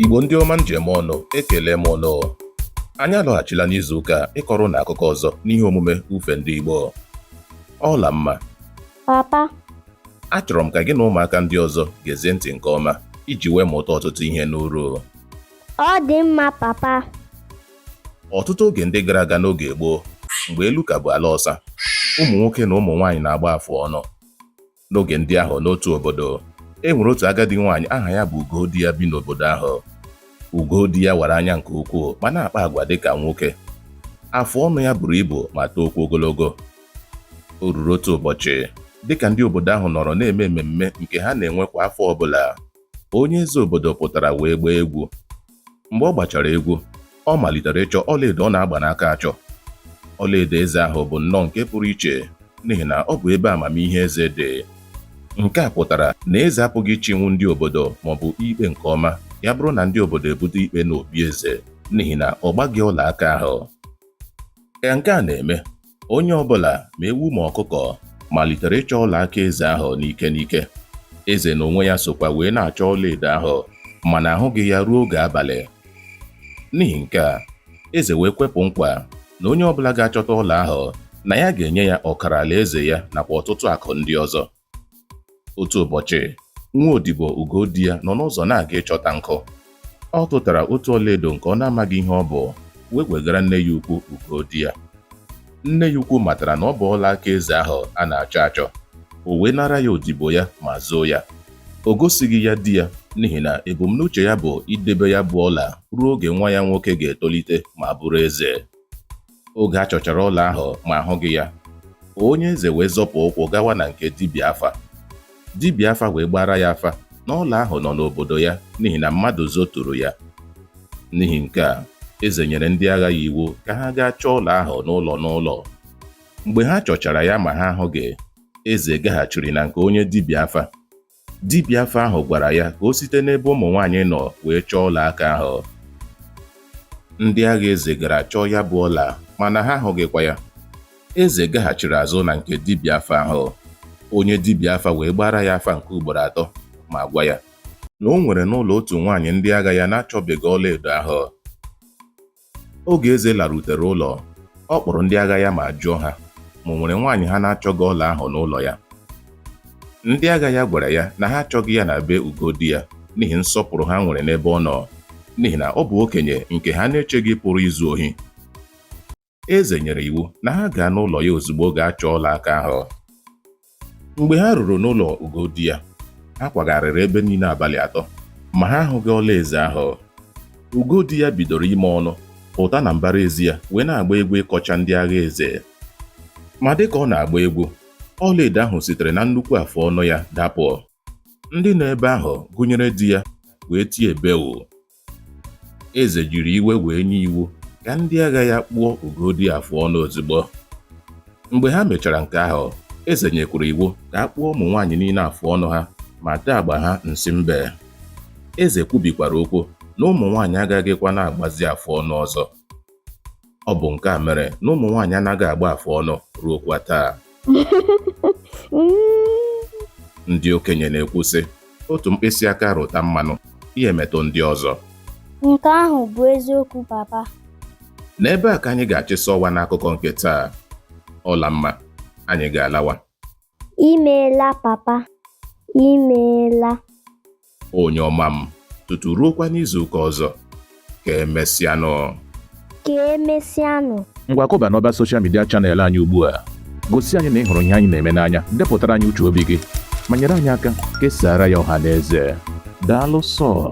Igbo ndị ọma m ji eme ọnụ ekele m ụnụ anyị alọghachila n'izu ụka a ịkọrọ ụnụ akụkọ ọzọ n'ihe omume ufe ndị Igbo Ọlamma papa achọrọ m ka gị na ụmụaka ndị ọzọ gezie ntị nke ọma iji wee mụta ọtụtụ ihe n'uru ọ dị mma papa ọtụtụ oge ndị gara aga n'oge gboo mgbe elu ka bụ ala ọsa ụmụ nwoke na ụmụ nwaanyị na-agba afụ ọnụ n'oge ndị ahụ n'otu obodo e nwere otu agadi nwaanyị aha ya bụ Ugodiya bi n'obodo ahụ Ugodiya wara anya nke ukwuu ma na-akpa agwa dị ka nwoke afụ ọnụ ya buru ibu ma tookwa ogologo o ruru otu ụbọchị dịka ndị obodo ahụ nọrọ na-eme mmemme nke ha na-enwe kwa afọ ọbụla onye eze obodo pụtara wee gbaa egwu mgbe ọ gbachara egwu ọ malitere ịchọ ọlaedo ọ na-agba n'aka achọ ọlaedo eze ahụ bụ nnọọ nke pụrụ iche n'ihi na ọ bụ ebe amamihe eze dị nke a pụtara na eze apụghị ịchịnwu ndị obodo maọbụ ikpe nke ọma ya bụrụ na ndị obodo ebute ikpe n'obi eze n'ihi na ọ gbaghị ọla aka ahụ ka nke a na-eme onye ọ bụla ma ewu ma ọkụkọ malitere ịchọ ọla aka eze ahụ n'ike n'ike eze n'onwe ya sokwa wee na-achọ ọlaedo ahụ mana ahụghị ya ruo oge abalị n'ihi nke a eze wee kwepụ nkwa na onye ọ bụla ga-achọta ọla ahụ na ya ga-enye ya ọkara alaeze ya nakwa ọtụtụ akụ ndị ọzọ otu ụbọchị nwa odibo Ugodiya nọ n'ụzọ na-aga ịchọta nkụ ọ tụtara otu ọlaedo nke ọ na-amaghị ihe ọ bụ wee wegara nne ya ukwu Ugodiya nne ya ukwu matara na ọ bụ ọla aka eze ahụ a na-achọ achọ o wee nara ya odibo ya ma zoo ya o gosighị ya di ya n'ihi na ebumnuche ya bụ idebe ya bụ ọla ruo oge nwa ya nwoke ga-etolite ma bụrụ eze oge a chọchara ọla ahụ ma ahụghị ya onye eze wee zọpụ ụkwụ gawa na nke dibịa afa dibịa afa wee gbaara ya afa na ọla ahụ nọ n'obodo ya n'ihi na mmadụ zoturu ya n'ihi nke a eze nyere ndị agha ya iwu ka ha gaa chọọ ọla ahụ n'ụlọ n'ụlọ mgbe ha chọchara ya ma ha ahụghị eze gaghachiri na nke onye dibịa afa Dibịa afa ahụ gwara ya ka o site n'ebe ụmụ nwaanyị nọ wee chọọ ọla aka ahụ. Ndị agha eze gara chọọ ya bụ ọla mana ha ahụghịkwa ya. Eze gaghachiri azụ na nke dibịa afa ahụ. Onye dibịa afa wee gbaara ya afa nke ugboro atọ ma gwa ya na o nwere n'ụlọ otu nwaanyị ndị agha ya na-achọbeghị ọlaedo ahụ. oge eze larutere ụlọ ọ kpọrọ ndị agha ya ma jụọ ha ma o nwere nwaanyị ha na-achọghị ọla ahụ n'ụlọ ya ndị agha ya gwara ya na ha achọghị ya na be Ugodiya n'ihi nsọpụrụ ha nwere n'ebe ọ nọ n'ihi na ọ bụ okenye nke ha na-echeghị pụrụ izu ohi eze nyere iwu na ha gaa n'ụlọ ya ozugbo gaa chọọ ọla aka ahụ mgbe ha ruru n'ụlọ ugo di ya ha kwagharịrị ebe niile abalị atọ ma ha ahụghị ọla eze ahụ ugo di ya bidoro ime ọnụ pụta na mbara ezi ya wee na-agba egwu ịkọcha ndị agha eze ma dịka ọ na-agba egwu ọlaedo ahụ sitere na nnukwu afụ ọnụ ya dapụ ndị nọ ebe ahụ gụnyere di ya wee tie bewu Eze jiri iwe wee nye iwu ka ndị agha ya kpụọ Ugodi afụ ọnụ ozugbo. Mgbe ha mechara nke ahụ, eze nyekwuru iwu ka a kpụọ ụmụ nwaanyị niile afụ ọnụ ha ma tee agba ha nsị mbe. Eze kwubikwara okwu na ụmụ nwaanyị agaghịkwa na-agbazi afụ ọnụ ọzọ. Ọ bụ nke a mere na ụmụ nwaanyị anaghị agba afụ ọnụ ruokwa taa. Ndị okenye na-ekwu sị, otu mkpịsị aka rụta mmanụ, ya emetụ ndị ọzọ. Nke ahụ bụ eziokwu papa. N'ebe a ka anyị ga-achịsa ọwa n'akụkọ nke taa. Ọlamma, anyị ga-alawa. Imeela papa, imeela. Onye ọma m, tutu ruokwa n'izu ụka ọzọ. Ka emesịanụ. Ka emesịanụ. Ngwa kụba n'ọba soshal midia chanel anyị ugbu a. Gosi anyị na ị hụrụ ihe anyị na-eme n'anya, depụtara anyị uche obi gị, ma nyere anyị aka kesaara ya ọha na eze. Daalụ sọ.